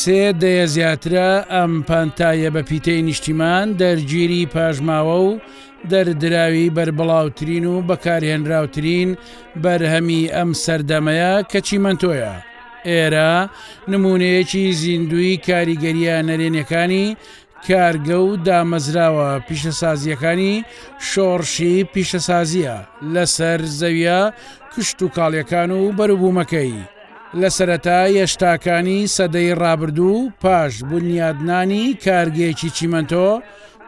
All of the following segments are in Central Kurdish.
سێ دەیە زیاترە ئەم پانتاییە بە پیتەی نیشتیمان دەرگیری پاشماوە و دەردراوی بەربڵاوترین و بەکارهێنراوترین بەرهەمی ئەم سەردەمەیە کەچی مەنتۆیە. ئێرە نموونەیەکی زیندووی کاریگەرییە نەرێنییەکانی کارگە و دامەزراوە پیشەسازییەکانی شۆڕشی پیشەسازییە لەسەر زەوییە کشتوکاڵییەکان و بەروبوومەکەی لە سەرەتا یەشتاکانی سەدەی ڕابردوو و پاش بونیادنانی کارگەیەکی چیمەنتۆ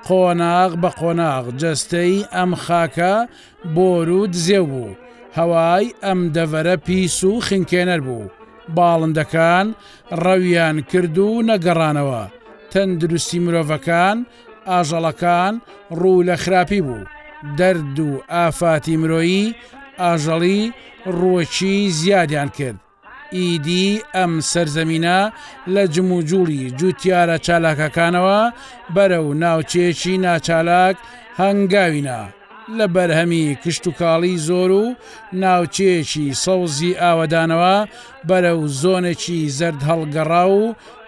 قۆناغ بە قۆناغ جەستەی ئەم خاکە بۆرو دزێو بوو، هەوای ئەم دەڤەرە پیس و خنکێنەر بوو، باڵندەکان ڕەویان کرد و نەگەڕانەوە، تەندروستی مرۆڤەکان، ئاژەڵەکان ڕوو لە خراپی بوو، دەرد و ئافاتی مرۆیی، ئاژەڵی ڕووەکی زیادیان کرد. ئیدی ئەم سەرزەمینە لە جموجوڵی جووتیارە چالاکەکانەوە بەرەو ناوچەیەکی ناچالاک هەنگاوینا، لە بەرهەمی کشتوکاڵی زۆر و ناوچەیەکی سەوزی ئاوەدانەوە بەرەو زۆنێکی زەردهەڵگەڕاو و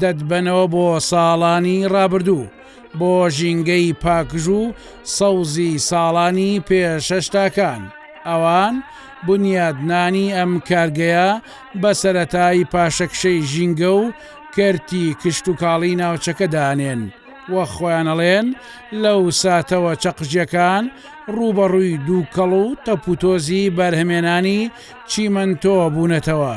دەتبەنەوە بۆ ساڵانی ڕابردوو بۆ ژینگەی پاکژوو سەوزی ساڵانی پێشەشتاکان ئەوان بنیادنانی ئەم کارگەیە بە سەرەتای پاشەکشەی ژینگە و کەرتی کشتوکاڵی ناوچەکە دانێن و خۆیانەڵێن لەو ساتەوە چەقژەکان ڕووبەڕووی دووکەڵ و تەپوتۆزی بەرهەمێنانی چیمەنتۆ بوونەتەوە.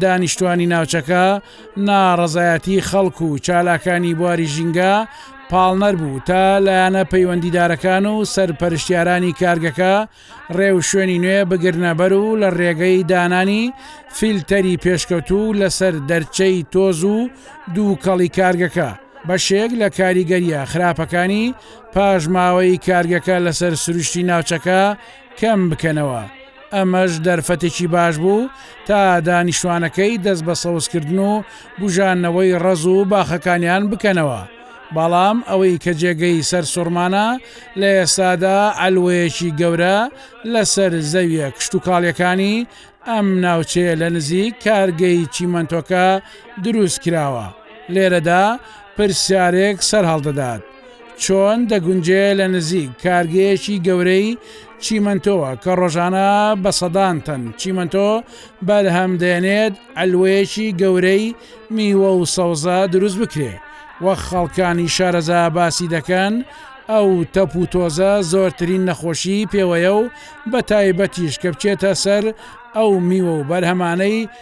دانیشتوانی ناوچەکە ناڕەزایەتی خەڵک و چالاکانی بواری ژینگە پاڵنەر بوو تا لایەنە پەیوەندیدارەکان و سەرپەرشتیارانی کارگەکە ڕێو شوێنی نوێ بگرنەبەر و لە ڕێگەی دانانی فیلتەری پێشکەوتوو لەسەر دەرچەی تۆز و دووکەڵی کارگەکە بەشێک لە کاریگەریە خراپەکانی پاشماوەی کارگەکە لەسەر سروشتی ناوچەکە کەم بکەنەوە، ئەمەش دەرفەتێکی باش بوو تا دانیشتوانەکەی دەست بە سەوزکردن و بوژانەوەی ڕەز و باخەکانیان بکەنەوە، بەڵام ئەوەی کە جێگەی سەرسوڕمانە لە ئێستادا عەلوەیەکی گەورە لەسەر زەویە کشتوکاڵیەکانی ئەم ناوچەیە لە نزیک کارگەی چیمەنتۆکە دروستکراوە، لێرەدا پرسیارێک سەرهەڵدەدات. چۆن دەگونجێ لە نزیک کارگەیەکی گەورەی چیمەنتۆوە کە ڕۆژانە بە سەدان تەن چیمەنتۆ بەرهەم دێنێت عەلوەیەکی گەورەی میوە و سەوزە دروست بکرێ وەک خەڵکانی شارەزا باسی دەکەن ئەو تەپ و تۆزە زۆرترین نەخۆشی پێوەیە و بە تایبەتیش کە بچێتە سەر ئەو میوە و بەرهەمانەی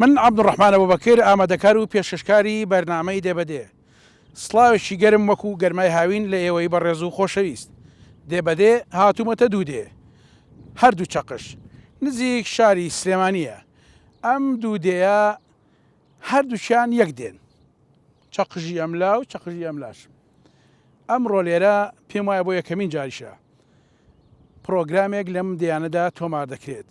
من عەبدولڕەحمان ئەبوبەکر ئامادەکار و پێشکەشکاری بەرنامەی دێ بە دێ سڵاوێکی گەرم وەکو گەرمای هاوین لە ئێوەی بەڕێز و خۆشەویست دێ بە دێ هاتوومەتە دوو دێ هەر دوو چەقش نزیک شاری سلێمانییە ئەم دوو دێیە هەر دووکیان یەک دێن چەقژی ئەم لا و چەقژی ئەم لاش ئەمڕۆ لێرە پێم وایە بۆ یەکەمین جاریشە پرۆگرامێک لەم دێیانەدا تۆمار دەکرێت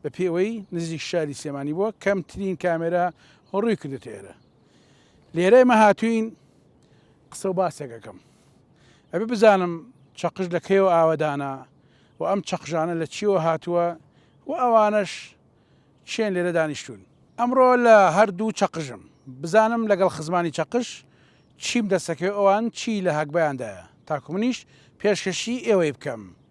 بە پێوەی نزیک شاری سلێمانی بووە کەمترین کامێرا ڕووی کردێتە ئێرە لێرە مە هاتوین قسە و باسێکەکەم ئەبێ بزانم چەقش لە کەیەوە ئاوەدانە و ئەم چەقژانە لە چیەوە هاتووە و ئەوانەش چێن لێرە دانیشتون ئەمڕۆ لە هەردوو چەقژم بزانم لەگەڵ خزمانی چەقش چیم دەسەکەی ئەوان چی لە هەگبیاندایە تاکو منیش پێشکەشی ئێوەی بکەم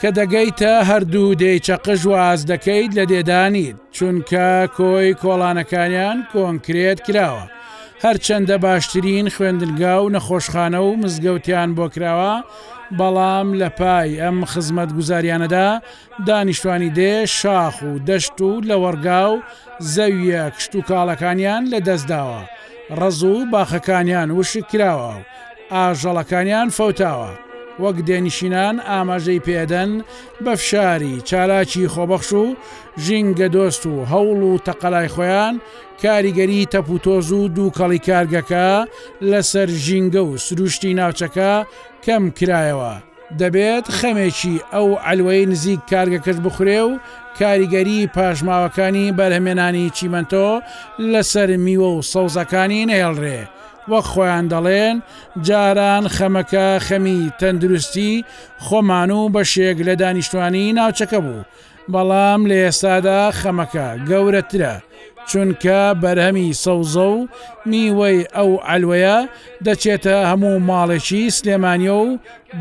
کە دەگەیتە هەردوو دێی چەقش واز دەکەیت لە دێدانیت چونکە کۆی کۆڵانەکانیان کۆنکرێت کراوە هەرچەندە باشترین خوێندنگا و نەخۆشخانە و مزگەوتیان بۆ کراوە بەڵام لە پای ئەم خزمەت گوزاریانەدا دانیشتوانی دێ شاخ و دەشت و لەوەڕگا و زەویە کشت و کاڵەکانیان لە دەستداوە ڕز و باخەکانیان وشک کراوە و ئاژەڵەکانیان فەوتاوە، وەک دێنشینان ئاماژەی پێدەن بە فشاری چالاکی خۆبەخش و ژینگەدۆست و هەوڵ و تەقەلای خۆیان کاریگەری تەپوتۆز و دووکەڵی کارگەکە لەسەر ژینگە و سروشتی ناوچەکە کەم کرایەوە دەبێت خەمێکی ئەو عەلوەی نزیک کارگەکەش بخورێ و کاریگەری پاشماوەکانی بەرهەمێنانی چیمەنتۆ لەسەر میوە و سەوزەکانی نەهێڵرێ وەک خۆیان دەڵێن جاران خەمەکە خەمی تەندروستی خۆمان و بەشێک لە دانیشتوانی ناوچەکە بوو، بەڵام لە ئێستادا خەمەکە گەورەترە، چونکە بەرهەمی سەوزە و میوەی ئەو عەلوەیە دەچێتە هەموو ماڵێکی سلێمانییە و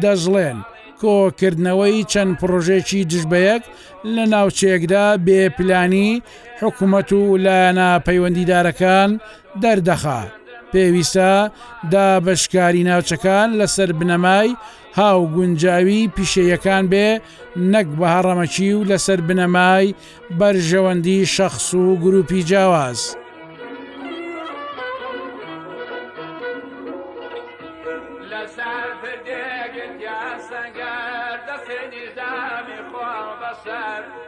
دەشڵێن، کۆکردنەوەی چەند پڕۆژەیەکی دژبەیەک لە ناوچەیەکدا بێ پلانی حکومەت و لایەنە پەیوەندیدارەکان دەردەخا پێویستە دابەشکاری ناوچەکان لەسەر بنەمای هاوگونجاوی پیشەیەکان بێ نەک بە هەڕەمەکی و لەسەر بنەمای بەرژەوەندی شەخس و گروپی جیاواز.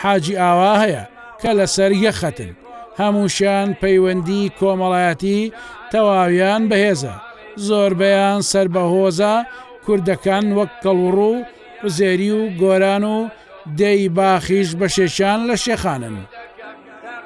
حاجی ئاوا هەیە کە لەسەر یەک خەتن، هەمووشیان پەیوەندی کۆمەڵایەتی تەواویان بەهێزە، زۆربەیان سەر بە هۆزە کوردەکان وەک کەڵوڕ و عوزێری و گۆران و دێی باخیش بەشێکیان لە شێخانن.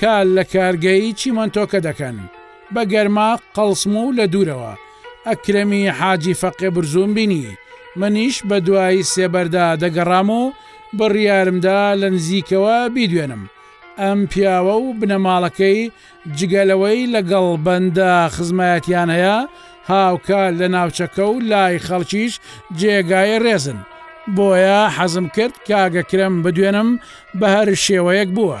کار لە کارگەی چیمەنتۆکە دەکەن، بە گەرما قەڵسم و لە دوورەوە ئەکرەمی حاجی فەقێ برزووم بینی، منیش بە دوای سێبەردا دەگەڕام و بڕیارم دا لە نزیکەوە بیدوێنم ئەم پیاوە و بنەماڵەکەی جگە لەوەی لەگەڵ بەندە خزمایەتیان هەیە هاوکات لە ناوچەکە و لای خەڵکیش جێگای ڕێزن بۆیە حەزم کرد کاک ئەکرەم بدوێنم بە هەر شێوەیەک بووە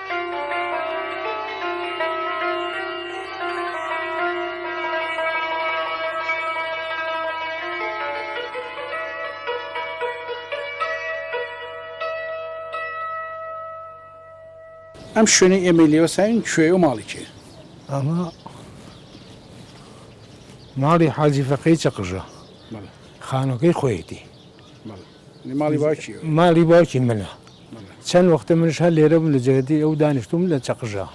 ئەم شوێنەی ئێمەی لێوە ساوین کوێ و ماڵی کێ ئەمە ماڵی حاجی فەقەی چەقژە خانەکەی خۆیەتی ماڵی باوکی ماڵی باوکی منە چەند وەختە منش هەر لێرە بوو لە جێگەتی ئەو دانیشتوم لە چەقژە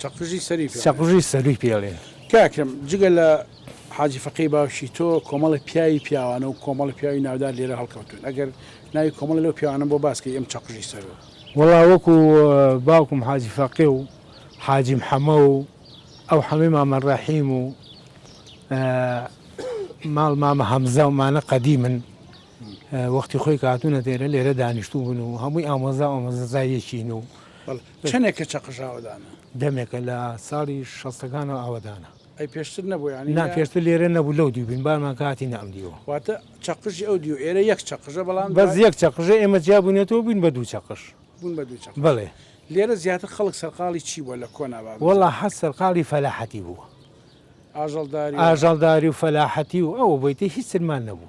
چەقژی سەری چەقژی سەری پێڵێن کاکرم جگە لە حاجی فەقی باوشی تۆ کۆمەڵی پیاوی پیاوانە و کۆمەڵی پیاوی ناودار لێرە هەڵکەوتون ئەگەر ناوی کۆمەڵ لەو پیاوانە بۆ باسکەی ئەم چەقژی سەرەوە وڵا وەکو باوکم حاجی فەقێ و حاجیم حەمە و ئەو حەمەی مامە ڕەحیم و ماڵ مامە هەمزە و مانە قەدی من وەختی خۆی کە هاتوونە دێرە لێرە دانیشتوو بوون و هەمووی ئامۆزا ئامۆزەزای یەکین و چەندێکە چەقژاوەدانە دەمێکە لە ساڵی شەستەکانەوە ئاوەدانە ئەی پێشتر نەبوو ینی نا پێشتر لێرە نەبوو لەو دیوبین بارمان کاتی نام دیوە واتە چەقژی ئەو دیو ئێرە یەک چەقژە بەڵام بەس یەک چەقژە ئێمە جیا بوونێتەوە بووین بە دوو چەقش بوون بە دوو چەق بڵێ لێرە زیاتر خەڵک سەرقاڵی چی بووە لە کۆناوا وەڵا حەز سەرقاڵی فەلاحەتی بووە ئاژەڵداری ئاژەڵداری و فەلاحەتی و ئەوە بۆیتە هیچ سرمان نەبوو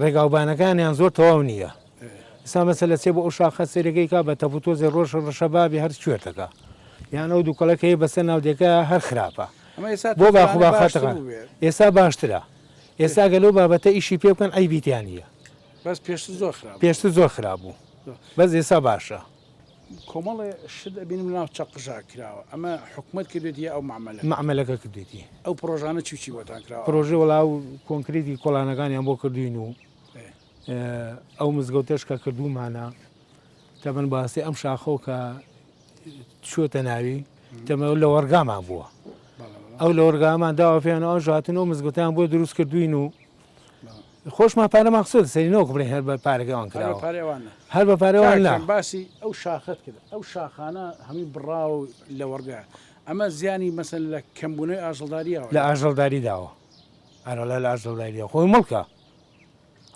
ڕێگاوبانەکانیان زۆر تەواو نییە ئستا مەسە لە چێ بۆ ئەو شاخە سەرەکەی کا بە تەپوتۆزی ڕۆژ ڕەشە بابی هەر کوێتەکە یان ئەو دوو کەڵەکەی بەسەر ناودێکە هەر خراپە بۆ باخباخاتەکان ئێستا باشترە ئێستا گەلو بابەتە ئیشی پێ بکەن ئەی بیتیان نیە بەس پێشتر زۆر خراپ پێشتر زۆر خراپ بوو بەس ئێستا باشە. کۆمەڵێ شت ئەبینم لەناو چەق پژاک کراوە ئەمە حکومت کردێتی یا ئەو معمەلە معمەلەکە کردێتی ئەو پرۆژانە چی چی بۆتان کرا پرۆژە وڵا و کۆنکرێتی کۆلانەکانیان بۆ کردوین و ئەو مزگەوتەش کە کردومانە تەبەن باسی ئەم شاخۆ کە چۆتە ناوی تەمە لە وەرگامان بووە ئەو لە وەرگامان داوە پێیان ئەو ژاتن و مزگوتیان بۆ دروست کردوین و خۆشمان پارەمان خسۆتە سەری نەوەکو بڵێین هەر بە پارەکەی ئەوان کراوە هەر بە پارەی ئەوان نا هەر بە پارەی ئەوان نا کاکەیان باسی ئەو شاخەت کرد ئەو شاخانە هەمووی بڕاوە و لەوەڕگەیان ئەمە زیانی مەسەن لە کەمبوونەوەی ئاژەڵدارییەوە لە ئاژەڵداری داوە ئەرەڵا لە ئاژەڵداری داوە خۆی مڵکە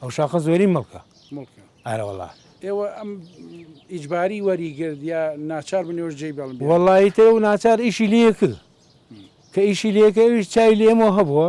ئەو شاخە زۆری مڵکە مڵکە ئارەوەڵا ئێوە ئەم ئیجباری وەریگرت یا ناچار بن ئێوەش جێی بەڵم بێنن. وەڵی تر و ناچار ئیشی لێ کرد کە ئیشی لێکە ئەویش چای لێمەوە هەبووە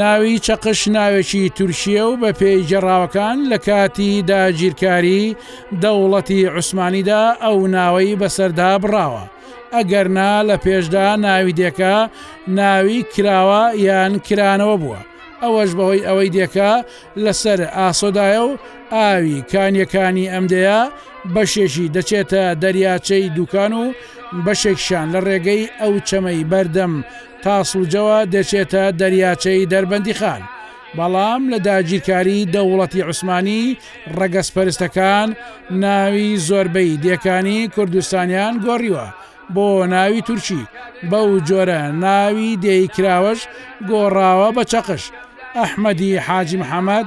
ناوی چەقش ناوێکی تورکیە و بە پێی گەڕاوەکان لە کاتی داگیرکاری دەوڵەتی عوسمانیدا ئەو ناوەی بەسەردا بڕاوە ئەگەرنا لە پێشدا ناوی دێکە ناوی کراوە یان کرانەوە بووە ئەوەش بەهۆی ئەوەی دێکە لەسەر ئاسۆدایە و ئاوی کانیەکانی ئەمدەیە بەشێکی دەچێتە دەریاچەی دوکان و بەشێکشان لە ڕێگەی ئەو چەمەی بەردەم تاسڵجەوە دەچێتە دەریاچەی دەربەندیخان، بەڵام لە داگیرکاری دەوڵەتی عوسمانی ڕەگەزپەرستەکان ناوی زۆربەی دێکانی کوردستانیان گۆڕیوە بۆ ناوی تورکی، بەو جۆرە ناوی دێی کراوەش گۆڕاوە بە چەقش. ئەحمەدی حاجی محەمەد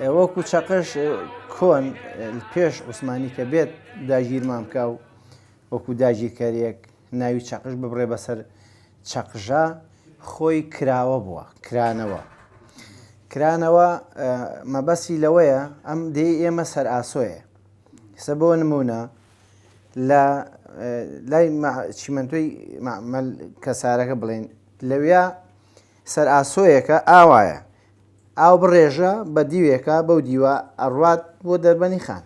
ئێ وەکو چەقەش کۆن پێش عوسمانی کە بێت داگیرمان بکە و وەکو داگیرکەرێک ناوی چەقش ببڕێ بەسەر چەقژە خۆی کراوە بووە کرانەوە کرانەوە مەبەسی لەوەیە ئەم دێ ئێمە سەر ئاسۆیە سە بۆ نمونە لە لای چیمەندۆی کەسارەکە بڵێن لەویا سەر ئاسۆیەکە ئاوایە. ئاو بڕێژە بە دیوێکا بەو دیوە ئەڕوات بۆ دەربەنی خان.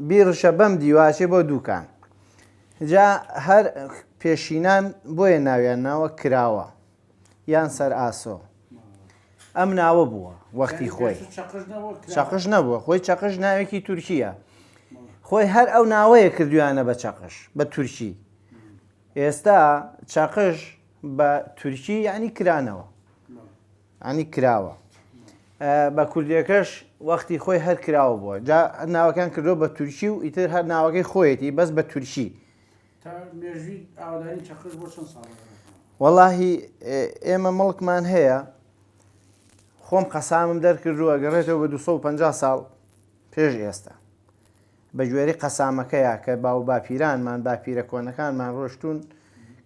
بیڕشە بەم دیوە ئەچێ بۆ دووکان. جا هەر پێشینان بۆیە ناویان ناوە کراوە یان سەر ئاسۆ. ئەم ناوە بووە وەختی خۆی. چەقش نەبووە خۆی چەقش ناوێکی تورکییە. خۆی هەر ئەو ناوەیە کردویانە بە چەقش بە تورکی. ئێستا چەقش بە تورکی یعنی کرانەوە عنی کراوە بە کوردیەکەش وەختی خۆی هەر کراوە بووە جا ناوەکان کردو بە تورکی و ئیتر هەر ناوەکەی خۆیەتی بەس بە تورکی وەڵاهی ئێمە مڵکمان هەیە خۆم قەسامم دەرکردووە گەڕێتەوە بە 250 ساڵ پێش ئێستا بە گوێرەی قەسامەکەیا کە باووباپیرانمان، باپیرە کۆنەکانمان ڕۆشتوون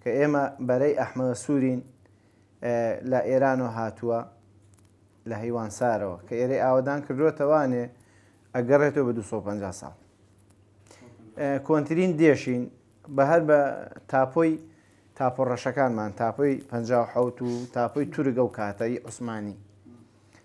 کە ئێمە بەرەی ئەحمەوە سوورین لە ئێرانەوە هاتووە لە هەیوانسارەوە کە ئێرەی ئاوەدان کردووەتە وانێ ئەگەڕێتەوە بە 250 ساڵ کۆنترین دێشین بە هەر بە تاپۆی تاپۆ ڕەشەکانمان تاپۆی 1970 و تاپۆی تورگە و کاتایی عوسمانی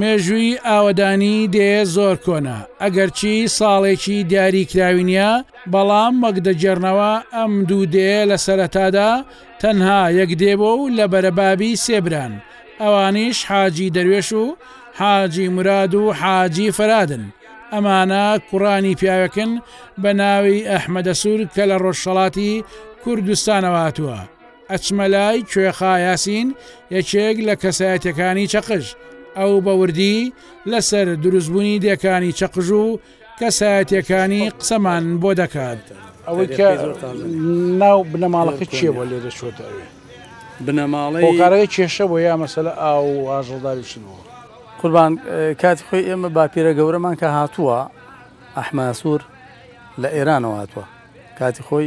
مێژووی ئاوەدانی دێ زۆر کۆنە، ئەگەرچی ساڵێکی دیاریکراوی نییە، بەڵام وەک دەگێڕنەوە ئەم دوو دێیە لە سەرەتادا تەنها یەک دێ بووە و لە بەرە بابی سێ بران، ئەوانیش حاجی دەروێش و حاجی موراد و حاجی فەرادن، ئەمانە کوڕانی پیاوێکن بە ناوی ئەحمەدەسوور کە لە ڕۆژهەڵاتی کوردستانەوە هاتووە. ئەچمە لای کوێخا یاسین یەکێک لە کەسایەتیەکانی چەقژ، ئەو بە وردی لەسەر دروستبوونی دێکانی چەقژ و کەسایەتیەکانی قسەمان بۆ دەکات. ئەوەی کە ناو بنەماڵەکە چیە بۆ لێرە چۆتە ئەوێ بنەماڵەی هۆکارەکە کێشە بۆ یا مەسەلە ئاو و ئاژەڵداری شت بوو قوربان کاتی خۆی ئێمە باپیرە گەورەمان کە هاتووە ئەحماسوور لە ئێرانەوە هاتووە کاتی خۆی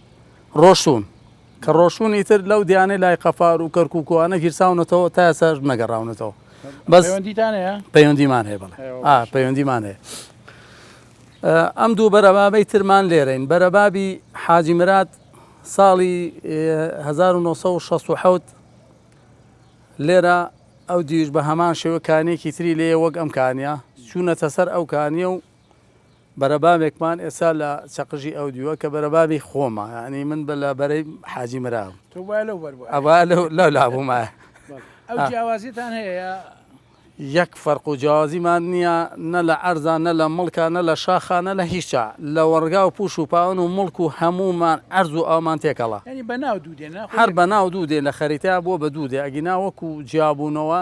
ڕۆشتوون. کە ڕۆشتوون ئیتر لەو دیانەی لای قەفار و کەرکووک و ئەوانە گیرساونەتەوە تا ئێستاش نەگەڕاونەتەوە. بەس پەیوەندیتان هەیە؟ پەیوەندیمان هەیە بەڵێ. ئەیوە آ باشە. پەیوەندیمان هەیە. ئە، ئەم دوو بەرەبابەی ترمان لێرەین. بەرەبابی حاجی مراد ساڵی ئێ، 1967 لێرە ئەو دیویش بە هەمان شێوە کانییەکی تری لێیە وەک ئەم کانییە، چوونەتە سەر ئەو کانییە و بەرەبابێکمان ئێستا لە چەقژی ئەو دیوە کە بەرەبابی خۆمە ینی من بە لە بەرەی حاجی مراوە لە لابوومە جیاوازیتان هەیە یەک فەرق و جیاوازیمان نییە نە لە ئەرزان نە لە مڵکە نە لە شاخانە لە هیچە لە وەڕگا و پوش و پاون و مڵک و هەمومان ئەرز و ئەومان تێکەڵە هەر بەناو دوو دێ لە خەریتە بۆ بە دوو دێ ئەگینا وەکو جیابوونەوە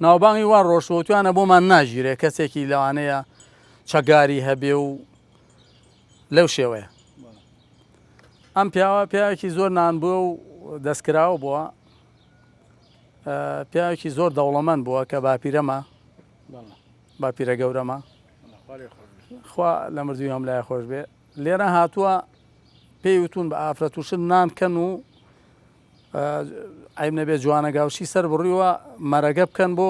ناوبانگی وان ڕۆژوەوتویانە بۆمان ناگیرێ کەسێکی لەوانەیە چەگاری هەبێ و لەو شێوەیە ئەم پیاوە پیاوێکی زۆر نان بووە و دەستکراوە بووە پیاوێکی زۆر دەوڵەمەند بووە کە باپیرەمە باپیرە گەورەمە خوا لە مردوی هەم لای خۆش بێ لێرە هاتووە پێی وتون بە ئافرەت وشن نانکەن و عەیب نەبێ جوانە گاوشی سەر بڕیوە مەرەگە بکەن بۆ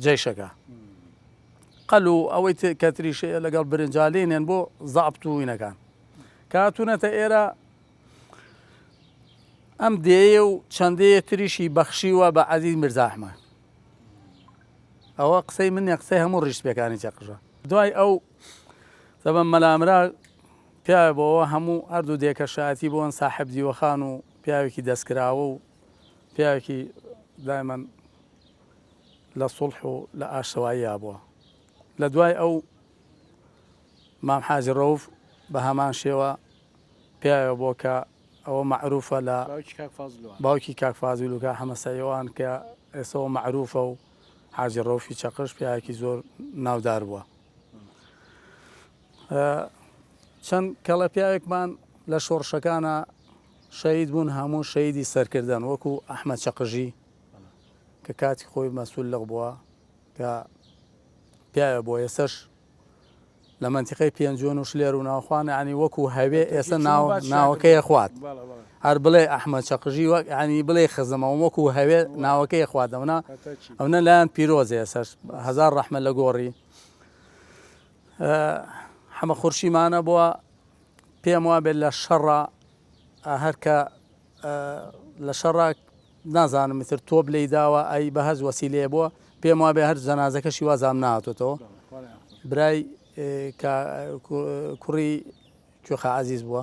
جەیشەکە قەل و ئەوەی کە تریشەیە لەگەڵ برنجالێنێن بۆ زابت و وینەکان کاتونەتە ئێرە ئەم دێیە و چەندەیە تریشی بەخشیوە بە عەزیز مرزاحمە ئەوە قسەی منە قسەی هەموو ڕیشتپێکانی چەقژە دوای ئەو سەبم مەلامرا پیاوێ بۆوە هەموو هەردوو دێکە شایەتی بوون ساحێب دیوەخان و پیاوێکی دەستکراوە و پیاوێکی دایمەن لە سوڵح و لە ئاشتەواییا بووە لە دوای ئەو مام حاجی ڕەوف بە هەمان شێوە پیاوێ بۆ کە ئەوە مەعروفە لە باوکی کاک فازیل و کاک حەمە سەیوان کە ئێسەوە مەعروفە و حاجی ڕەوفی چەقش پیاوێکی زۆر ناودار بووە. چەند کەڵە پیاوێکمان لە شۆڕشەکانا شەهید بوون هەموو شەیدی سەرکردن وەکو ئەحمە چەقژی کە کاتی خۆی مەسول لەق بووە کە پیاوە بۆ ئێسش لە منتیقی پێنجۆن و شلێر و ناوخواانانی وەکو هەوێ ئێستا ناوەکەی خوات. هەر بڵێ ئەحمەد چەقژی وەک یانی بڵێی خزمە وەکو هەوێ ناوەکەی خوارد ئەونە ئەونە لایان پیرۆزێ سەر هەزار ڕەحمە لە گۆڕی حەمە خورشیمانە بووە پێم وابێت لە شەڕە هەرکە لە شەڕە نازانم میتر تۆپ لی داوە ئەی بە هەز وەسی لێ بووە پێم وابێ هەر جەنازەکەشی وازام ناتۆتەوە برای کوڕی کوێخە عزیز بووە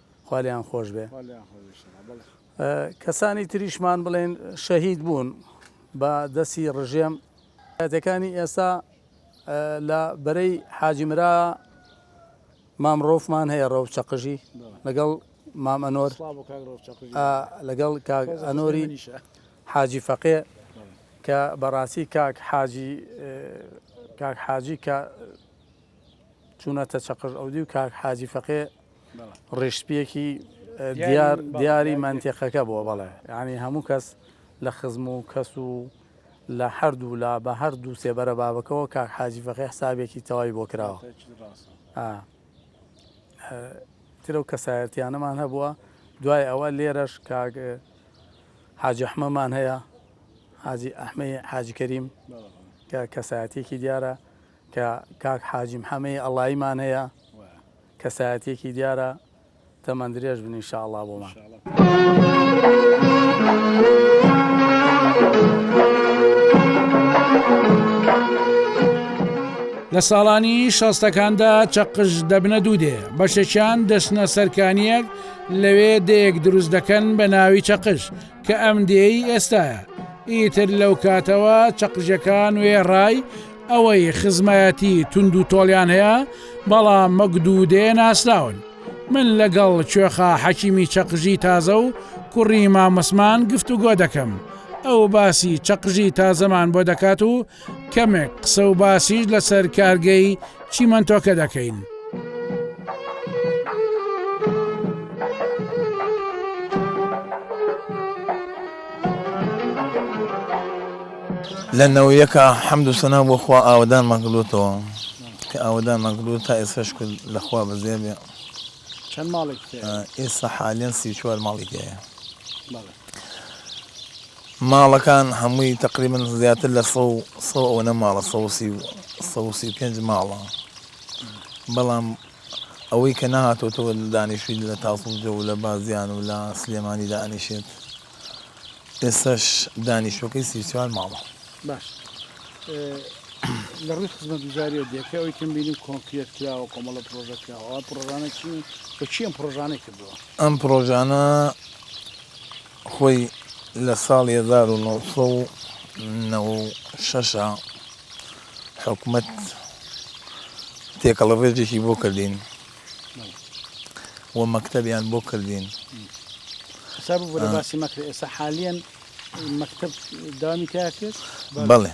خوا لێیان خۆش بێ کەسانی تریشمان بڵێن شەهید بوون بە دەستی ڕژێم کاتەکانی ئێستا لە بەرەی حاجیمرا مامڕۆفمان هەیە ڕەو چەقژی لەگەڵ مام ئەنۆر لەگەڵ کاک ئەنۆری حاجی فەقێ کە بەڕاستی کاک حاجی کاک حاجی کە چوونەتە چەقژ ئەودی و کاک حاجی فەقێ ڕیشسپیەکی دیار دیاری مەنتیقەکە بووە بەڵێ ینی هەموو کەس لە خزم و کەس و لە هەردوو لا بە هەر دوو سێبەرە بابەکەەوە کاک حاجی فەقی حسابێکی تەواوی بۆ کراوە ترە و کەسایەتیانەمان هەبووە دوای ئەوە لێرەش کاک حاجەحمەمان هەیە حاجی ئەحمەی حاجکەریم کە کەسایەتێکی دیارە کە کاک حاجی محەمەی ئەڵایمان هەیە کەسایەتیەکی دیارە تەمەن درێژ بن انشاءاللە لە ساڵانی شەستەکاندا چەقش دەبنە دوو دێ بەشەکیان دەچنە سەرکانیەک لەوێ دەیەک دروست دەکەن بە ناوی چەقش کە ئەم دێی ئێستاە ئیتر لەو کاتەوە چەقژەکان وێڕای ئەوەی خزمایەتی توند و تۆڵیان هەیە بەڵام مەگد و دێ ناسراون من لەگەڵ کوێخا حەکیمی چەقژی تازە و کوڕی مامۆسمان گفت و گۆ دەکەم ئەو باسی چەقژی تازەمان بۆ دەکات و کەمێک قسە و باسیش لەسەر کارگەی چیمەنتۆکە دەکەین لە نەوە یەکا حەمد و سەنا بۆ خوا ئاوەدانمان کردوتەوە کە ئاوەدانمان کردو تا ئێستا شکر لەخوا بەزێ بێ چەند ماڵێک ئێستا حالیان سی چوار ماڵی تەیە ماڵەکان هەمووی تقریبن زیاتر لە سە سە ئەوەنە ماڵە سەسی سەسی پێنج ماڵە بەڵام ئەوەی کە نەهاتۆتەوە دانیشتووی لە تاسڵجە و لە بازیان و لە سلێمانی دانیشێت، ئێستاش دانیشتووەکەی سی و چوار ماڵە. باشە لە ڕووی خزمەتگوزارییەوە دەکرێت ئەوەی کە بینیم کۆنکرێت کراوە، کۆمەڵە پڕۆژە کراوە، ئەوە پڕۆژانە چین و بە چی ئەم پڕۆژانەی کردووە؟ ئەم پڕۆژانە خۆی لە ساڵی هەزار و نۆ سەد و نەوە و شەش حکومەت تێکەڵە ڕێژێکی بۆ کردین و مەکتەبیان بۆ کردین حساب بۆ باسی مەکرد ئێستا حالیان مەکتب دامی تاکرد بەڵێ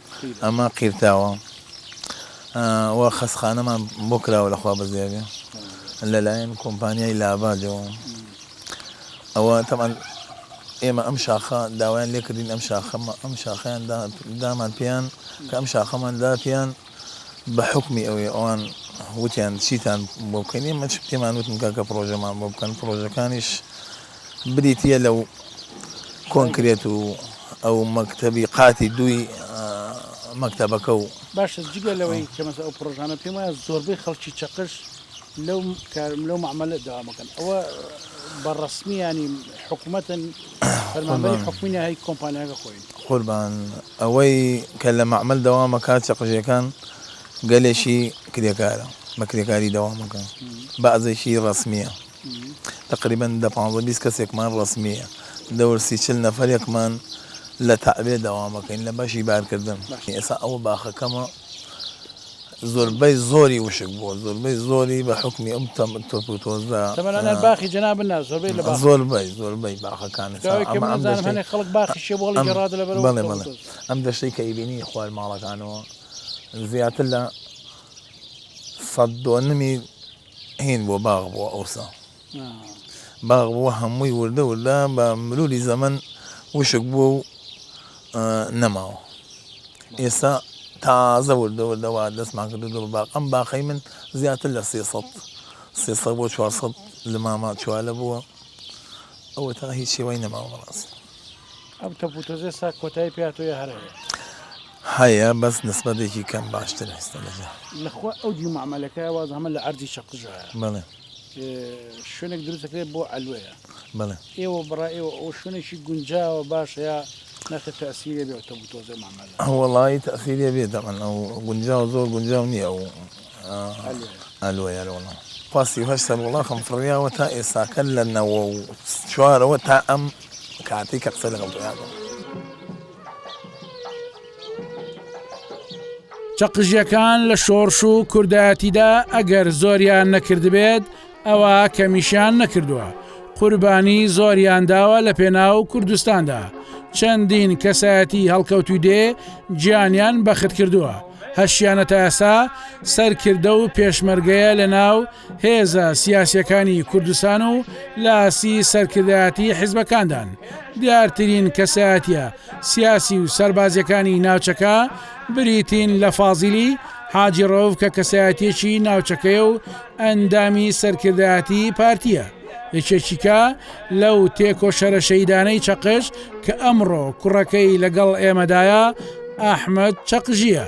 ئەمە قیرتاوە و خەسخانەمان بۆ کراوە لە خوا بەزێبێ لەلایەن کۆمپانیای لابادەوە ئەوە تەمان ئێمە ئەم شاخە داوایان لێکردین ئەم شاخەمە ئەم شاخیان دامان پێیان کە ئەم شاخەمان دا پێیان بە حکمی ئەوێ ئەوان وتیان چیتان بۆ بکەین ئێمە پێمان وتن کاکە پرۆژەمان بۆ بکەن پرۆژەکانیش بریتییە لە و کۆنکرێت و ئەو مەکتەبی قاتی دووی مەکتەبەکە و. باشە جگە لەوەی کە مەسە ئەو پڕۆژانە پێم وایە زۆربەی خەڵکی چەقش لەو کار لەو مەعمەلە دەوام بکەن ئەوە بە ڕەسمی ینی حکوومەتن فەرمانبەری حکومینە هەی کۆمپانیاگە خۆین. قوربان ئەوەی کە لە مەعمەل دەوامە کار چەقژەکان گەلێکی کرێکارە بە کرێکاری دەوامەکە بەعزێکی ڕەسمیە. تەقریبەن دە پانزە بیست کەسێکمان ڕەسمییە دەور سی چل نەفەرێکمان لە تەعبێ دەوامەکەین لە بەشی بارکردن ئێسا ئەوە باخەکەمە زۆربەی زۆری وشک بووە زۆربەی زۆری بە حکومی ئەم تەم تۆپ و تۆزە تەمەنانە باخی جەنابن نا زۆربەی لە زۆربەی زۆربەی باخەکان خەڵک باخی ئەم دەشتەی کە ئەیبینی خوار ماڵەکانەوە زیاتر لە سەد دۆنمی هین بووە باغ بووە ئەوسا باغ بووە هەمووی وردە وردە بە مروری زەمەن وشک بووە و نەماوە ئێستا تازە وردە وردەوە دەستمان کردو دڵ باق ئەم باقی من زیاتر لە سێ سەد سێ سەد بۆ چوار سەد لە ماما چوالە بووە ئەوە تا هیچ شێوای نەماوە بەڕاست ئەم تەپوتەزێسا کۆتایی پێاتۆیە هەرەیە هەیە بەس نسبەتێکی کەم باشتر ئێستا لە جا. لەخوا ئەو دیو مەعمەلەکە واز هەمە لە عەرزی چەقژایە بەڵێ. شوێنێک دروست دەکرێت بۆ عەلوەیە بەڵێ. ئێوە بەڕای ئێوە ئەوە شوێنێکی گونجاوە باشە یا ناخێ تەئسیرێ بێ ئەوتۆ بتۆزێ مەعمەلە. وەڵایی تەئسیرێ بێ دەبەن ئەو گونجاوە زۆر گونجاو نییە ئەو عەلوەیە وەڵا. خوا سی و هەشت سەر وڵاخم فڕیاوە تا ئێستاکە لە نەوە و چوارەوە تا ئەم کاتەی کە قسە لەگەڵ تۆ ئەکەم. چەقژیەکان لە شۆڕش و کوردایەتیدا ئەگەر زۆریان نەکردبێت ئەوە کەمیشیان نەکردووە قوربانی زۆریان داوە لە پێناو کوردستاندا چەندین کەسایەتی هەڵکەوتوی دێ گیانیان بەخت کردووە هەشیانە تاسا سەرکردە و پێشمەرگەیە لە ناو هێزە سیاسیەکانی کوردستان و لاسی سەرکردایەتی حیزبەکاندان دیارترین کەسایەتە سیاسی و سەربازیەکانی ناوچەکە بریتین لە فازیلی حاجی ڕەوف کە کەسایەتێکی ناوچەکەی و ئەندامی سەرکردایەتی پارتیە یەکێکیکە لەو تێکۆشەرە شەیدانەی چەقش کە ئەمڕۆ کوڕەکەی لەگەڵ ئێمەدایە ئەحمد چەقژیە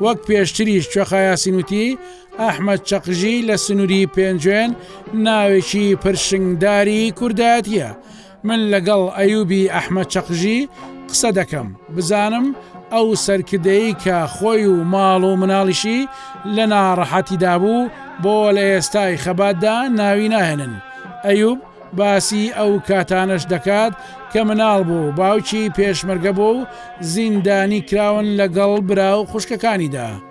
وەک پێشتریش کوێخایاسینوتی ئەحمەد چەقژی لە سنووری پێنجوێن ناوێکی پرشنگداری کوردایەتیە من لەگەڵ ئەیوبی ئەحمە چەقژی قسە دەکەم بزانم ئەو سەرکردەی کە خۆی و ماڵ و مناڵیشی لە ناڕەحەتیدا بوو بۆ لە ئێستای خەباتدا ناوی ناهێنن ئەیوب باسی ئەو کاتانەش دەکات کە مناڵ بوو باوکی پێشمەرگە بوو و زیندانی کراون لەگەڵ برا و خوشکەکانیدا.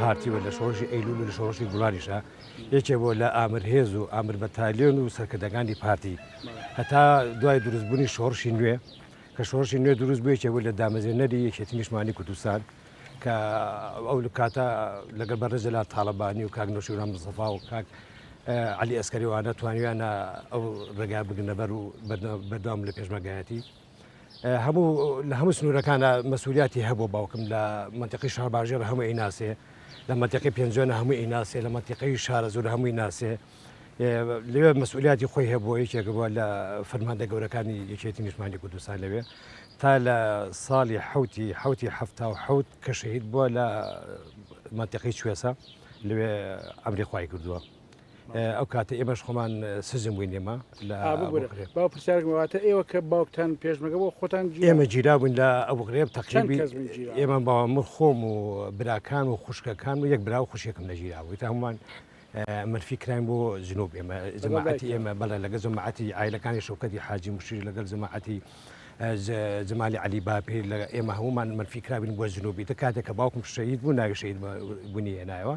پارتی و لە شۆڕشی ئەیلول و لە شۆڕشی گوڵانیشا یەکێ بۆ لە ئامر هێز و ئامر بەتالیۆن و سەرکردەکانی پارتی هەتا دوای دروستبوونی شۆڕشی نوێ کە شۆڕشی نوێ دروست بوویەکێ بوو لە دامەزێنەری یەکێتی نیشمانی کوردستان کە ئەو کاتە لەگەڵ بە ڕێزەلا تاالبانی و کاک نوشیران مزەفا و کاک علی ئەسکەریوانە توانیانە ئەو ڕێگا بگنەبەر و بەردەوام لە پێشمەگایەتی هەموو لە هەموو سنوورەکانە مەسوولیاتی هەبوو باوکم لە منتیقی شارباژێڕ هەموو ئەی ناسێ لە منتیقی پێنجۆنە هەموو ئەی ناسێ لە منتیقی شارە زۆر هەمووی ناسێ لەوێ مەسئولیاتی خۆی هەبووە یەکێک بووە لە فەرماندە گەورەکانی یەکێتی نیشمانی کوردستان لەوێ تا لە ساڵی حوتی حوتی هەفتا و حوت کە شەهید بووە لە منتیقی شوێسە لەوێ ئەمری خی کردووە. ئەو کاتە ئێمەش خۆمان سزم بووین ئێمە لە باو پرسیارم واتە ئێوە کە باوکتان پێشمەگە بۆ خۆتان ئێمە گیرا بووین لە ئەو غرێب تەقیبی ئێمە باوامر خۆم و براکان و خوشکەکان و یەک برا و خوشێکم لە گیرا بووی تا هەمووان مرفی کراین بۆ جنوب ئێمە زماعەتی ئێمە بەڵێ لەگە زماعەتی ئایلەکانی شوکەتی حاجی مشیر لەگەل زماعەتی زمالی علی باپیر لە ئێمە هەمومان منفی کرابین بۆ جنوبی دە کاتێک کە باوکم شەید بوو ناوی شەید بوونی هێنایەوە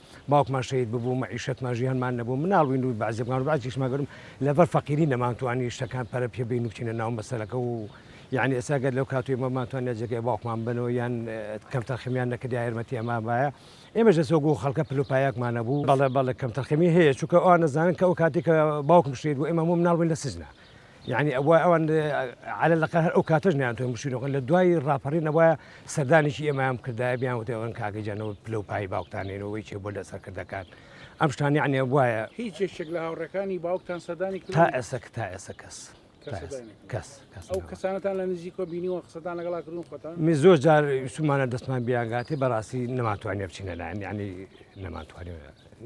باوکمان شەهید ببوو مەعیشەتمان ژیانمان نەبوو مناڵ بووین و بەعزێ بووان و بەعزیش مەگەرم لەبەر فەقیری نەمانتوانی شتەکان پەرە پێ بین و بچینە ناو مەسەلەکە و یعنی ئێستا گەر لەو کاتوی مەمانتوانە جێگەی باوکمان بنەوە یان کەم تەرخەمیان نەکرد یا یارمەتی ئەمان وایە ئێمەش لە سۆگو خەڵکە پلوپایەکمان نەبوو بەڵێ بەڵێ کەم تەرخەمی هەیە چونکە ئەوان نەزانن کە ئەو کاتی کە باوکم شەهید بوو ئێمە هەموو مناڵ بووین لە سجنا یانی ئەوە ئەوان عە لەقە هەر ئەو کاتەش نیانتوان بشینەوە لە دوای ڕاپەڕین ئەوە سەردانێکی ئێمەیان کردای بیان وتەوەن کاگەجانەوە پلە و پای باوکتانێنەوەی چێ بۆ لە سەرکردەکان ئەم شتانی عنێ وایە هیچ یەکێک لە هاوڕەکانی باوکتان سەدانی تا ئێسک تا ئێسە کەس کەس ئەو کەسانەتان لە نزیکۆ بینیوە قسەتان لەگەڵا کردون خۆتان می زۆر جار سومانە دەستمان بیانگاتی بەڕاستی نەماتوانێ بچینە لایەن ینی نەماتوانێ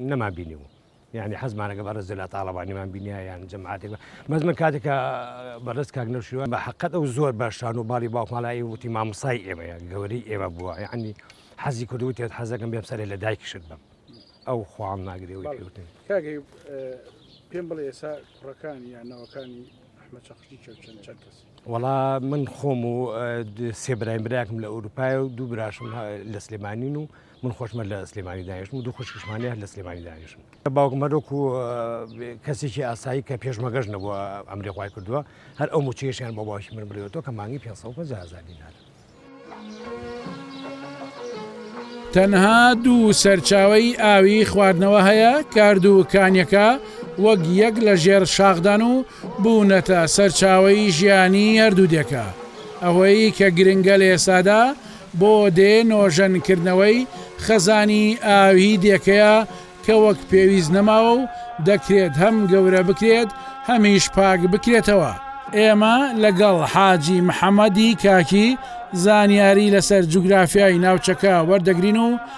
نەما بینیوە یانی حەزمانە کە بەڕێز جەلال تاڵەبانیمان بینیا یان جەماعەتێک بە بەس من کاتێک کە بەڕێز کاک نەوشیروان بە حەقەت ئەو زۆر بە شان و باڵی باوکماڵای ئێوە وتی مامۆستای ئێمەیە گەورەی ئێمە بووە یعنی حەزی کرد وتێت حەزەکەم بێم سەرێ لە دایکیشت بم ئەو خوام ناگرێەوەی بەڵێ. پێوتن کاک ئەیوب، اه، پێم بڵێ ئێستا کوڕەکانی یان نەوەکانی ئەحمەد چەقشتی چەند چەند چەند کەس وەڵا من خۆم و اه، د- سێ برایم برایەکم لە ئەوروپایە و دوو براشم اه، لە سلێمانین و من خۆشمە لە سلێمانی دانیشتم و دوو خوشکشمانی هەر لە سلێمانی دانیشن باوکم هەرۆک و کەسێکی ئاسایی کە پێشمەگەش نەبووە ئەمری خخوای کردووە هەر ئەو موچەیەشیان بۆ باوکی من برێتەوە کە مانگی 550 دینار. تەنها دوو سەرچاوی ئاوی خواردنەوە هەیە کارد و کانیەکە وەک یەک لە ژێر شاخدان و بوونەتە سەرچاوی ژیانی هەردوو دێکە ئەوەی کە گرنگە لە ئێسادا بۆ دێ نۆژەن کردنەوەی خەزانی ئاویی دێکەیە کە وەک پێویست نەماوە و دەکرێت هەم گەورە بکرێت هەمیش پاک بکرێتەوە. ئێمە لەگەڵ حاجی محەمەدی کاکی زانیاری لەسەر جوگرافیای ناوچەکە وەردەگرین و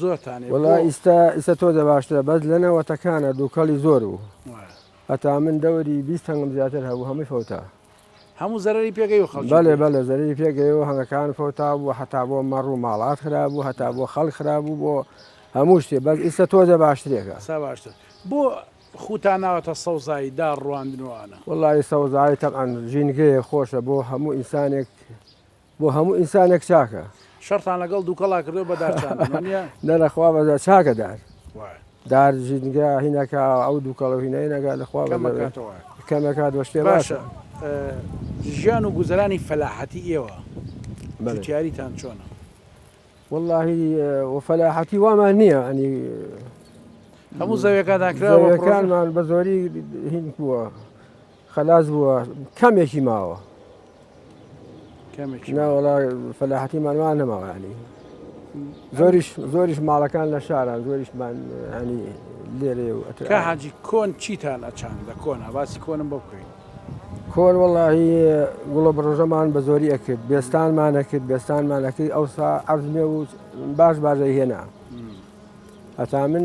زۆرتانێ بۆ؟ وەڵا ئیستا ئیستا تۆ دە باشترە بەس لە نەوەتەکانا دوکەڵی زۆر بوو هەتا من دەوەری بیست هەنگم زیاتر هەبوو هەمووی فەوتا هەموو زەرەری پێگەی و خەڵکی بەلێ بەلێ زەرەری پێگەی و هەنگەکان فەوتا بوو هەتا بۆ مەڕ و ماڵات خراب بوو هەتا بۆ خەڵک خراب بوو بۆ هەموو شتێ بەس ئیستا تۆ دە باشترێکە سا باشتر بۆ خوتان ناوەتە سەوزایی داڕ ڕواندن و ئانا؟ وەڵای سەوزایی تەبعەن ژینگەیە خۆشە بۆ هەموو ئینسانێک. بۆ هەموو ئینسانێک چاکە. شەڕتان لەگەڵ دووکەڵا کردووە بە دار چاندنەوە نییە؟ نە لە خوا بەزە چاکە دار. وایە. دار ژینگە هینەکە ئەو دووکەڵە و هینەینەکە لە خوا بەزە بێ. کەمەکاتەوە. کەمەکات وە شتێ باشە. باشە ژیان و گوزەرانی فەلاحەتی ئێوە بەلێ. جوتیاریتان چۆنە؟ وەڵاهی وە فەلاحەتی وامان نییە ئەنی هەموو زەویەکانتان کرا و پڕۆژە؟ زەویەکانمان بە زۆری هین بووە. خەلاس بووە کەمێکی ماوە ناوەڵا فەلاحەتیمان وا نەماوانی زۆریش زۆریش ماڵەکان لە شاران زۆریشمان ینی لێرێ و ئەتر حاجی کۆن چیتان ئەچان لە کۆن هەواسی کۆنم بۆ بکەین کۆن وڵی گوڵە بڕۆژەمان بە زۆری ئەکرد بێستانمان ئەکرد بێستانمان ئەکرد ئەوسا ئەرزمێ و باش بازەی هێنا هەتا من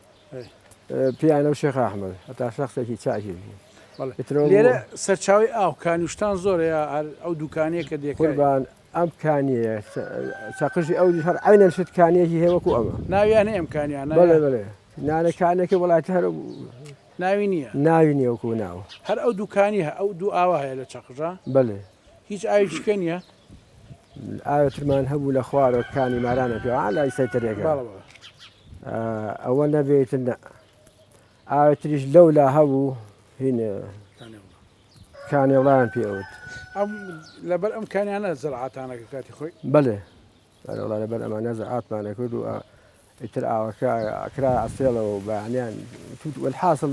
پیانەو شێخ ئەحمەد هەتا شەخسێکی چاکی بوو. لێرە سەرچاوەی ئاو کانیوشتان زۆرە یا هەر ئەو دوکانەیە کە دێکەی؟ قوربان ئەم کانیەیە چەقژی ئەو هەر عینەن شت کانیەکی هەیە وەکو ئەمە ناویانە ئەم کانیانە بەڵێ بەڵێ نانە کانەکە وڵاتی هەر ناوی نییە ناوی نیە وەکو ناوە هەر ئەو دوکانی هە ئەو دوو ئاوا هەیە لە چەقژە بەڵێ هیچ ئاوی شکە نیە ئاوێ ترمان هەبوو لە خوارەوە کانی مارانە پێ لای سەیتەرێکە ئەوە نەبێت نە ئاوێ تریش لەو لا هەبوو کانێڵیان پێوت لەبەر ئەم کانیانە زرعاتانەکە کاتی خۆی بەێ لەبەر ئەمانە زعاتمانە کرد و ئیتر ئاوەکە ئەکرایە ئەستێڵەوە و بەیانیان توت وەلحاسڵ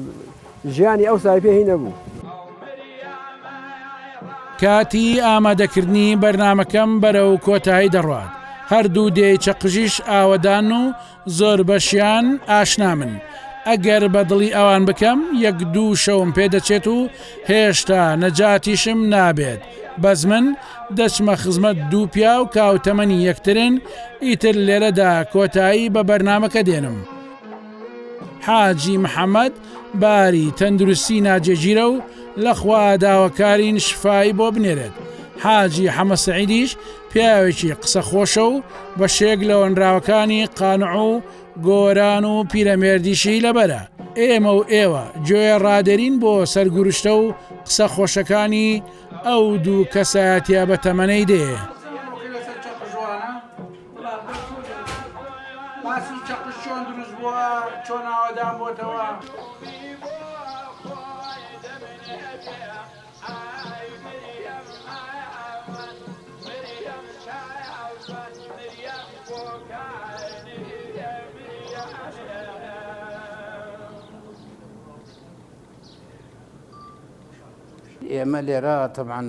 ژیانی ئەوسای پێ هی نەبوو. کاتی ئامادەکردنی بەرنامەکەم بەرەو کۆتایی دەڕوات، هەردوو دێی چەقژیش ئاوەدان و زۆربەشیان ئاشنامن، ئەگەر بە دڵی ئەوان بکەم یەک دوو شەوم پێدەچێت و هێشتا نەجاتیشم نابێت، بەس من دەچمە خزمەت دوو پیاو کە هاوتەمەنی یەکترن ئیتر لێرەدا کۆتایی بە بەرنامەکە دێنم. حاجی محەمەد باری تەندروستی ناجێگیرە و لە خوا داوەکارین شفای بۆ بنێرێت. حاجی حەمە سەعیدیش پیاوێکی قسە خۆشە و بەشێک لە هۆنراوەکانی قانع و گۆران و پیرەمێردیشی لەبەرە. ئێمە و ئێوە گوێ ڕادێرین بۆ سەرگورشتە و قسە خۆشەکانی ئەو دوو کەسایەتیە بە تەمەنەی دێ. ئێمە لێرە تەبعەن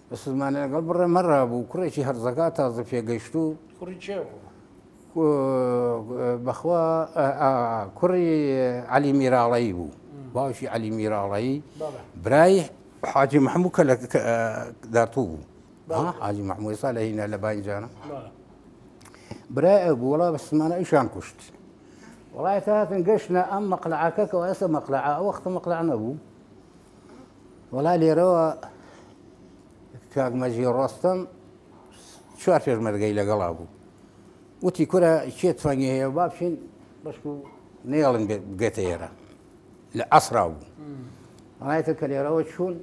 بەسزمانە لەگەڵ بڕێ مەڕا بوو کوڕێکی هەرزەگا تازە پێگەیشتوو کوڕی چێ بوو؟ بەخوا کوڕی علی میراڵایی بوو باوکی علی میراڵایی برای حاجی محموو کە لە دارتوو بوو حاجی محمووی سا لە هینە لە بانجانە برای بووڵا بەسمانە ئیشان کوشت وڵایەکە هاتن گەشتە ئەم مەقلعاکە کە ئێستا مەقلع ئەوەختە مەقلع نەبوو وەڵا لێرەوە کاک مەجی ڕۆستم چوار پێشمەرگەی لەگەڵا بوو وتی کورە کێ تفەنگی هەیە با بچین بەشکو نێڵن بێتە ئێرە لە ئەسرا بوو ڕایەکە کە لێرەوە چوون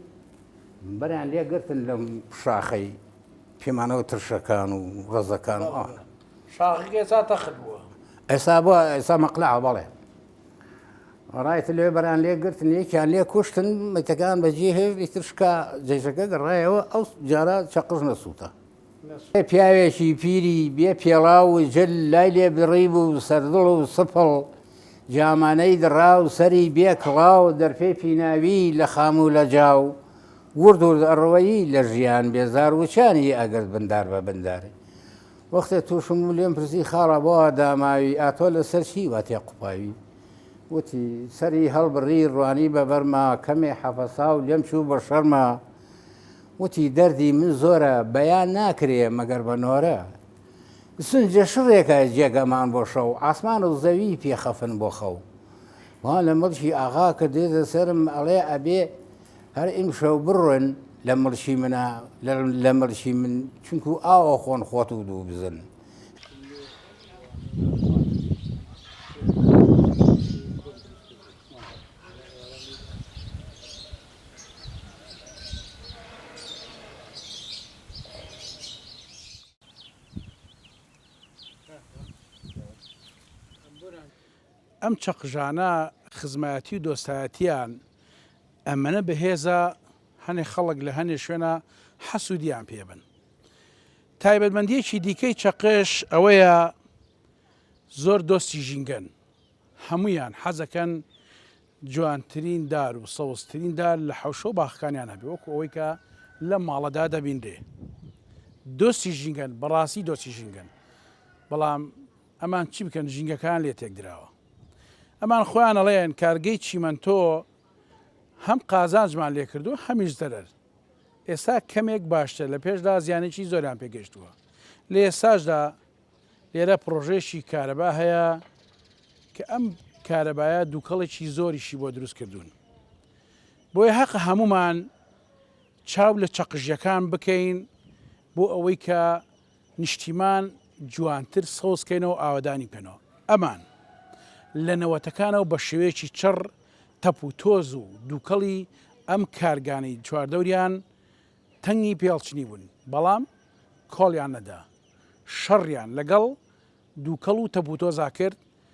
بەریان لێ گرتن لەم شاخەی پێمانەوە ترشەکان و ڕزەکان ئەوانە شاخەکە ئێستا تەخت بووە ئێستا بووە ئێستا مەقلع بەڵێ ڕایت لێ بەران لێ گرتن یەکیان لێ کوشتن مەتەکان بەجێ هێشت ئیتر شکا جێژەکە گەڕایەوە ئەو جارە چەقژ نەسووتە پیاوێکی پیری بێ پێڵاو و جل لای لێ بڕی بوو سەردڵ و سپڵ جامانەی دڕا و سەری بێ کڵاو دەرپێ پیناوی لە خام و لە جاو ورد ورد ئەڕوەیی لە ژیان بێزار وچانی ئەگرت بندار بە بنداری وەختێ تووشم بوو لێم پرسی خاڵە بۆ وا داماوی، ئاتۆ لەسەر چی وا تێقوپاوی؟ وتی، سەری هەڵبڕی ڕوانی بە بەرما، کەمێ حەفەسا و لێم چوو بە شەرما. وتی، دەردی من زۆرە، بەیان ناکرێ مەگەر بە نۆرە. سنجە شڕێکە جێگەمان بۆ شەو، عاسمان و زەوی پێ خەفن بۆ خەو. وا لە مڵکی ئاغا کردێتە سەرم، ئەڵێ ئەبێ. هەر ئیمشەو بڕۆن لە مڵشی منە لە مڵشی من چونکو ئاوە خۆن خۆت و دوو بزن. ئەم چەقژانە خزمایەتی و دۆستایەتیان ئەمەنە بەهێزە هەنێ خەڵک لە هەنێ شوێنا حەسودیان پێ بن تایبەتمەندیەکی دیکەی چەقش ئەوەیە زۆر دۆستی ژینگەن هەمویان حەزەکەن جوانترین دار و سەوزترین دار لە حوشە و باخکانیان هەبێ وەکو ئەوەی کە لە ماڵەدا دەبینرێ دۆستی ژینگەن بەڕاستی دۆستی ژینگەن بەڵام ئەمان چی بکەن ژینگەکەیان لێ تێکدراوە ئەمان خۆیان ئەڵێن کارگەی چیمەنتۆ هەم قازانجمان لێ کردووە هەمیش زەرەر ئێستا کەمێک باشتر لە پێشدا زیانێکی زۆریان پێگەشتووە لە ئێستاشدا لێرە پرۆژێکی کارەبا هەیە کە ئەم کارەبایە دووکەڵێکی زۆریشی بۆ دروست کردوون بۆیە هەق هەمومان چاو لە چەقژیەکان بکەین بۆ ئەوەی کە نیشتیمان جوانتر سەوز کەینەوە و ئاوەدانی بکەنەوە. ئەمان لە نەوەتەکانەوە بە شێوەیەکی چڕ تەپ و تۆز و دووکەڵی ئەم کارگانەی چواردەوریان تەنگی پێ هەڵچنی بوون، بەڵام کۆڵیان نەدا. شەڕیان لەگەڵ دووکەڵ و تەپ و تۆزا کرد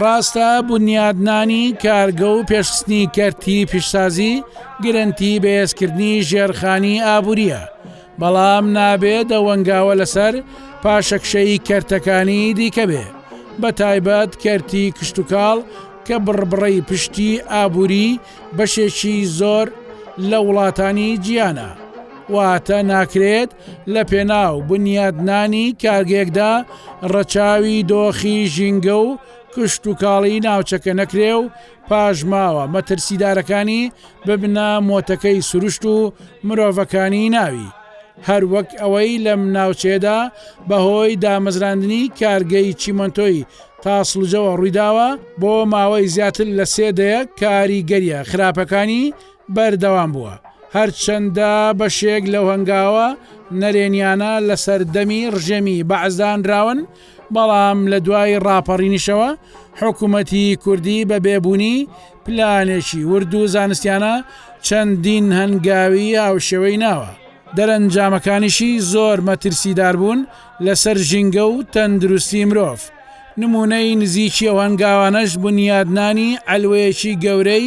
ڕاستە بنیادنانی کارگە و پێشخستنی کەرتی پیشسازی گرنتی بەهێزکردنی ژێرخانی ئابووریە بەڵام نابێ دەوەنگاوە لەسەر پاشەکشەی کەرتەکانی دیکە بێ بە تایبەت کەرتی کشتتوکاڵ کە بڕبڕەی پشتی ئابووری بەشێکی زۆر لە وڵاتانی جیانە واتە ناکرێت لەپێناو بنیاتنانی کارگەیەکدا ڕەچاوی دۆخی ژینگە و کشتوکاڵی ناوچەکە نەکرێ و پاشماوە مەترسیدارەکانی ببنە مۆتەکەی سروشت و مرۆڤەکانی ناوی، هەروەک ئەوەی لەم ناوچەیەدا بەهۆی دامەزراندنی کارگەی چیمەنتۆی تاسڵجەوە ڕوویداوە، بۆ ماوەی زیاتر لە سێ دەیە کاریگەرییە خراپەکانی بەردەوام بووە، هەرچەندە بەشێک لەو هەنگاوە نەرێنییانە لە سەردەمی ڕژێمی بەعس دانراون، بەڵام لە دوای ڕاپەڕینیشەوە حکوومەتی کوردی بە بێبوونی پلانێکی ورد و زانستییانە چەندین هەنگاوی هاوشێوەی ناوە، دەرەنجامەکانیشی زۆر مەترسیدار بوون لەسەر ژینگە و تەندروستی مرۆڤ، نموونەی نزیکی ئەو هەنگاوانەش بنیادنانی عەلوەیەکی گەورەی